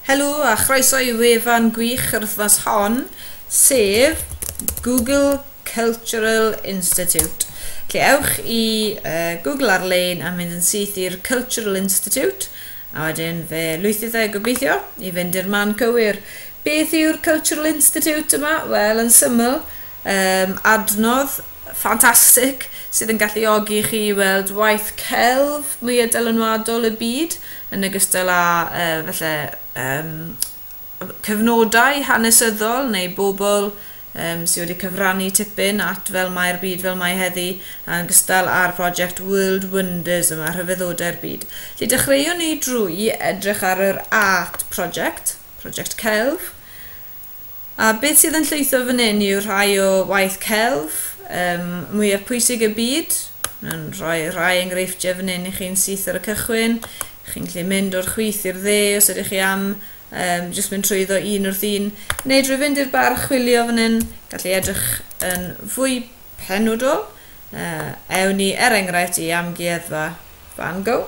Helo a chroeso i wefan gwych yr wythnos hon, sef Google Cultural Institute. Lle ewch i uh, Google ar-lein a mynd yn syth i'r Cultural Institute, a wedyn fe lwythydd e gobeithio i fynd i'r man cywir. Beth yw'r Cultural Institute yma? Wel, yn syml, Yym, adnodd ffantastig sydd yn galluogi i chi weld waith celf mwya dylanwadol y byd, yn ogystal â yy falle yym cyfnodau hanesyddol neu bobl yym sy wedi cyfrannu tipyn at fel mae'r byd fel mae heddi, yn ogystal â'r prosiect World Wonders yma, Rhyfeddodau'r Byd. Felly dechreuwn ni drwy edrych ar yr Art Project, prosiect celf, A beth sydd yn llwytho fan hyn yw rhai o waith celf um, mwyaf pwysig y byd. Mae'n rhoi rhai enghreifftiau fan hyn i chi'n syth ar y cychwyn. Chi'n gallu mynd o'r chwith i'r dde os ydych chi am um, jyst mynd trwyddo un wrth un. Neu drwy fynd i'r bar chwilio fan hyn, gallu edrych yn fwy penodol. Uh, ewn ni er enghraifft i amgueddfa Van Gogh.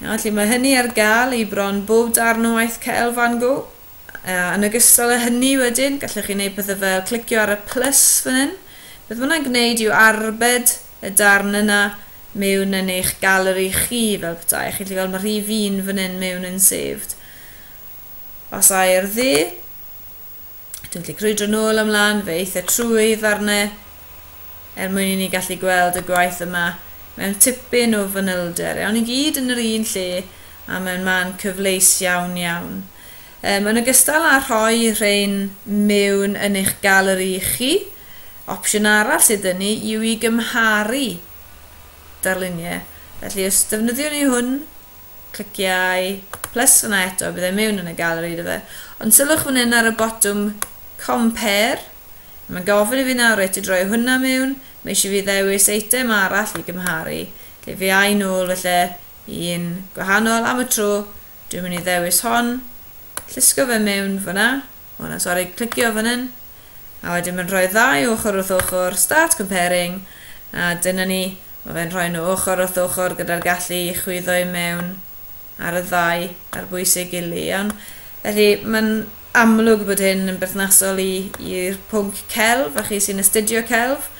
Felly mae hynny ar gael i bron bob darn o waith Cael Van Gogh. A yn ogystal â hynny wedyn, gallwch chi wneud pethau fel clicio ar y plus fan hyn. Beth mae hwnna'n gwneud yw arbed y darn yna mewn yn eich galeri chi fel petai. Chi'n gallu gweld mae rhif un fan hyn mewn yn saved. Os ai ar dde, dwi'n gallu crwydro nôl ymlaen, fe eitha trwy ddarnau er mwyn i ni gallu gweld y gwaith yma mewn tipyn o fanylder. Iawn i gyd yn yr un lle a mewn man cyfleus iawn iawn. Um, yn ogystal â rhoi rhain mewn yn eich galeri chi, opsiwn arall sydd yn ni yw i gymharu darluniau. Felly os defnyddiwn ni hwn, Cliciau plus yna eto, bydd e mewn yn y galeri iddo fe. Ond sylwch fan hyn ar y botwm Compare. Mae'n gofyn i fi nawr reit i droi hwnna mewn. Mae eisiau fi ddewis eitem arall i gymharu. Lle fi ai nôl felly i un gwahanol am y tro. Dwi'n mynd i ddewis hon. Llusgo fe mewn fyna. hwnna, sori, clicio fan hyn, a wedyn mae'n rhoi ddau ochr wrth ochr, start comparing, a dyna ni, mae fe'n rhoi nhw ochr wrth ochr gyda'r gallu i chwyddo i mewn ar y ddau ar bwysig gili, iawn. Felly mae'n amlwg bod hyn yn berthnasol i'r pwnc celf, a chi sy'n astudio celf,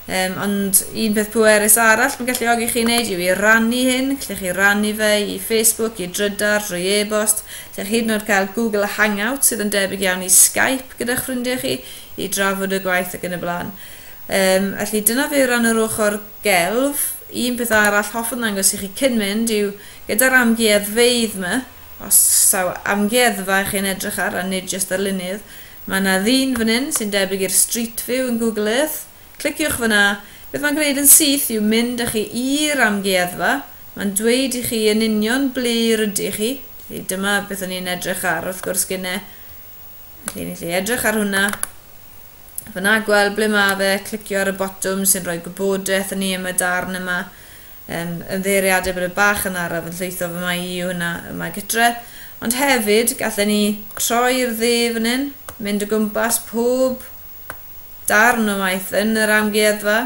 Um, ond un peth pwerus arall mae'n galluogi chi wneud yw i rannu hyn. Lle chi rannu fe i Facebook, i drydar, drwy e-bost. Lle chi hyd yn oed cael Google Hangout sydd yn debyg iawn i Skype gyda'ch ffrindiau chi i drafod y gwaith ac yn y blaen. Um, felly dyna fe o ran yr ochr gelf. Un peth arall hoffwn ddangos i chi cyn mynd yw gyda'r amgueddfeydd yma, os saw amgueddfa chi'n edrych ar a nid jyst ar lunydd, Mae yna ddyn fan hyn sy'n debyg i'r Street View yn Google Earth. Cliciwch fan'na. Beth mae'n gwneud yn syth yw mynd â chi i'r amgueddfa. Mae'n dweud i chi yn union ble rydych chi. Felly dyma beth o'n i'n edrych ar wrth gwrs gynne. Felly ni'n gallu edrych ar hwnna. Fan'na gweld ble mae fe, clicio ar y botwm sy'n rhoi gwybodaeth i ni am y darn yma. Yn ymddiheuriadau bod y bach yn araf yn llwytho fy mai i yw hynna yma gytre. Ond hefyd, gallen ni troi'r dde fan hyn, mynd o gwmpas pob darn o waith yn yr amgueddfa.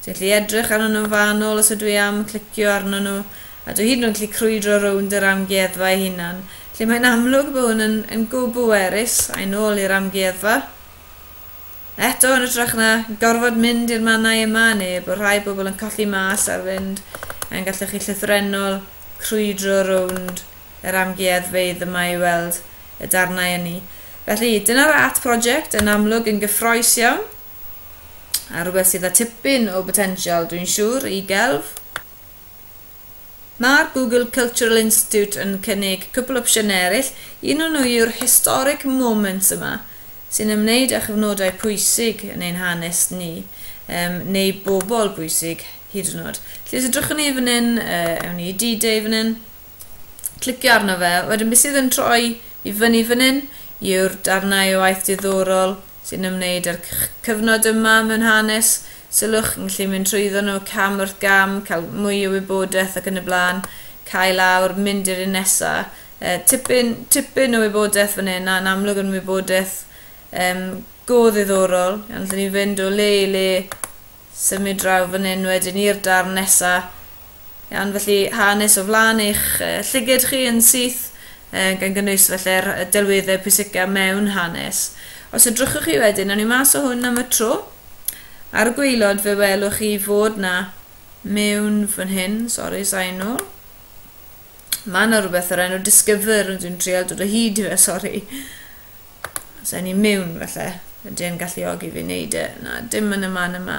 Dwi'n gallu edrych arnyn nhw'n fanwl os ydw i am clicio arnyn nhw, a dwi hyd yn oed gallu crwydro rownd yr amgueddfa ei hunan. Felly mae'n amlwg bod hwn yn yn go bwerus, a'i nôl i'r amgueddfa. Eto yn ytrach na gorfod mynd i'r mannau y mae neb, o rhai pobl yn colli mas ar fynd, yn gallech chi llythrennol crwydro rownd yr amgueddfeydd y mae i weld y darnau ynni. Felly, dyna'r art project, yn amlwg yn gyffroes iawn, a rhywbeth sydd â tipyn o botensial, dwi'n siŵr, i gelf. Mae'r Google Cultural Institute yn cynnig cwpl opsiynau eraill, un o nhw yw'r Historic Moments yma, sy'n ymwneud â chyfnodau pwysig yn ein hanes ni, yym, neu bobl bwysig, hyd yn oed. Felly os edrychwn ni fan hyn, yy, ewn ni i D-Day fan hyn, clicio arno fe, wedyn beth sydd yn troi i fyny fan hyn yw'r darnau o waith diddorol, sy'n ymwneud â'r cyfnod yma mewn hanes, sylwch, chi'n gallu mynd trwyddo nhw cam wrth gam, cael mwy o wybodaeth ac yn y blaen, cau lawr, mynd i'r un nesa'. Yy, tipyn, tipyn o wybodaeth fan hyn, a'n amlwg yn wybodaeth um, go ddiddorol. Ond allwn ni fynd o le i le Symud draw fan hyn wedyn i'r darn nesa. Iawn, felly hanes o flaen eich llygid chi yn syth, gan gynnwys felly'r delweddau pwysicaf mewn hanes. Os edrychwch chi wedyn, awn ni mas o hwn am y tro. Ar y gweilod fe welwch chi fod na mewn fan hyn, sori, sain nhw. Mae yna rhywbeth o'r enw Discover, ond dwi'n trial dod o hyd i fe, sori. Os ewn ni mewn falle, ydy e'n galluogi fi wneud e? Na, dim yn y man yma.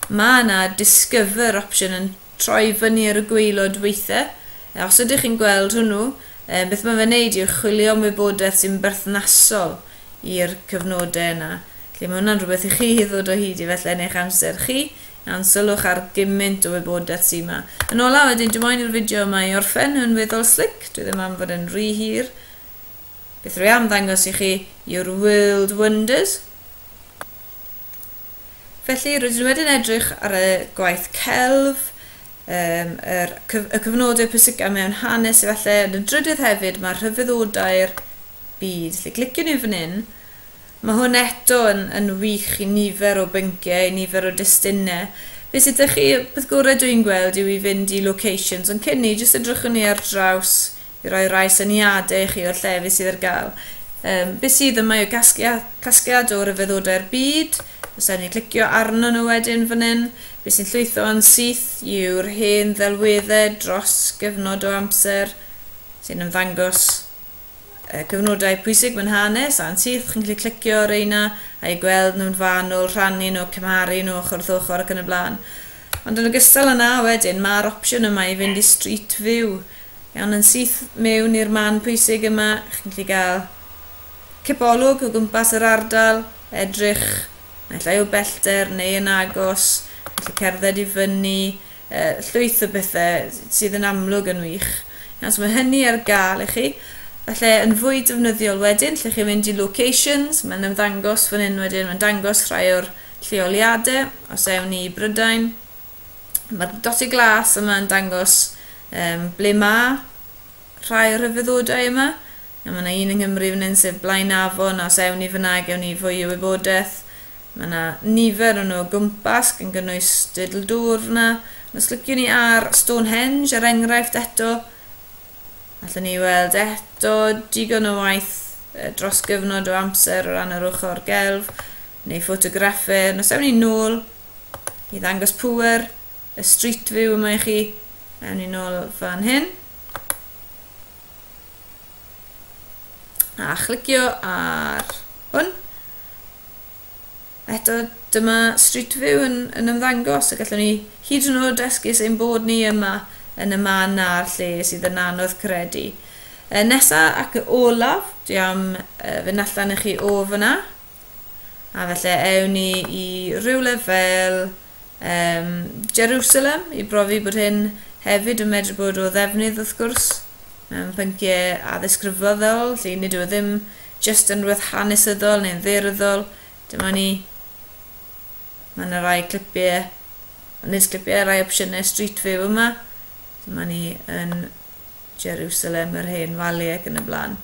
Mae yna Discover opsiwn yn troi fyny ar y gweilod weithiau. E, os ydych chi'n gweld hwnnw, e, beth mae fe'n neud yw chwilio am wybodaeth sy'n berthnasol i'r cyfnodau yna. Felly mae hwnna'n rhywbeth i chi ddod o hyd i falle yn eich amser chi, iawn, sylwch ar gymaint o wybodaeth sy'n yma. Yn ola wedyn, dwi moyn i'r fideo yma i orffen yn weddol slic, dwi ddim am fod yn rhy hir. Beth rwy am ddangos i chi yw'r World Wonders. Felly rydyn nhw wedyn edrych ar y gwaith celf, um, yr, y cyfnodau pwysicaf mewn hanes efallai, yn y drydydd hefyd mae'r rhyfeddodau'r byd. Felly clicio ni fan hyn, mae hwn eto yn, yn wych i nifer o bynciau, i nifer o destunau. Be sydd ydych chi, beth gorau dwi'n gweld yw i fynd i locations, ond cyn ni, jyst edrychwn ni ar draws i roi rhai syniadau i chi o'r llefydd sydd ar gael. Um, beth sydd yma yw casglia, casgliad o ryfeddodau'r byd, os ewn ni clicio arno nhw wedyn fan hyn, beth sy'n llwytho yn syth yw'r hen ddelweddau dros gyfnod o amser sy'n ymddangos y cyfnodau pwysig mewn hanes a'n syth, chi'n gallu clicio ar reina a'i gweld nhw'n fanwl, rhannu nhw, cymharu nhw ochr wrth ochr ac yn y blaen. Ond yn ogystal â 'na wedyn ma'r opsiwn yma i fynd i Street View. Iawn, yn syth mewn i'r man pwysig yma, chi'n gallu gael cipolwg o gwmpas yr ardal, edrych naill ai o bellter neu yn agos, chi'n gallu cerdded i fyny, yy llwyth o bethe sydd yn amlwg yn wych. Iawn, so mae hynny ar gael i chi. Falle yn fwy defnyddiol wedyn, lle chi'n mynd i locations, mae'n ymddangos fan hyn wedyn, mae'n dangos rhai o'r lleoliadau, os ewn ni i Brydain, mae'r dotty glas yma yn dangos um, ble mae rhai o'r rhyfeddodau yma. A mae yna un yng Nghymru fan hyn sef Blaen Afon, a os ewn ni fyna gewn ni fwy o wybodaeth. Mae yna nifer o'n nhw o gwmpas, gan gynnwys dedl dŵr fyna. Os lyciwn ni ar Stonehenge, er enghraifft eto, allwn ni weld eto digon o waith dros gyfnod o amser o ran yr ochr gelf. neu ffotograffer, nos ewn ni'n nôl i ddangos pŵer y street view yma i chi. Ewn ni'n nôl fan hyn. A chlicio ar hwn. Eto, dyma street view yn, yn ymddangos a gallwn ni hyd yn oed esgus ein bod ni yma yn y man a'r lle sydd yn anodd credu. E, nesa ac olaf, dwi am e, fynd allan i chi o fyna. A felly ewn ni i rywle fel um, Jerusalem i brofi bod hyn hefyd yn medru bod o ddefnydd wrth gwrs mewn pynciau addysg rhyfeddol, lle nid yw e ddim jyst yn rhywbeth hanesyddol neu'n dderyddol. Dyma ni. Mae yna rai clipiau, nid clipiau, rai opsiynau Street View yma. Dyma ni yn Jerusalem, yr Hen Fali ac yn y blaen.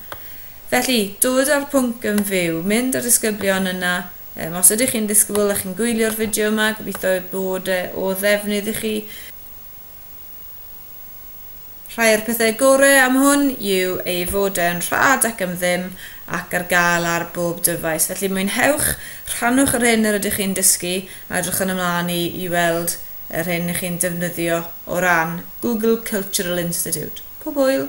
Felly, dod â'r pwnc yn fyw, mynd â disgyblion yna. Um, os ydych chi'n disgybl a chi'n gwylio'r fideo yma, gobeithio bod e o ddefnydd i chi. Rhai o'r pethau gorau am hwn yw ei fod e'n rhad ac am ddim ac ar gael ar bob dyfais. Felly mwynhewch, rhannwch yr hyn yr ydych chi'n dysgu a edrychwn ymlaen i, i weld yr hyn 'y chi'n defnyddio o ran Google Cultural Institute. Pob hwyl!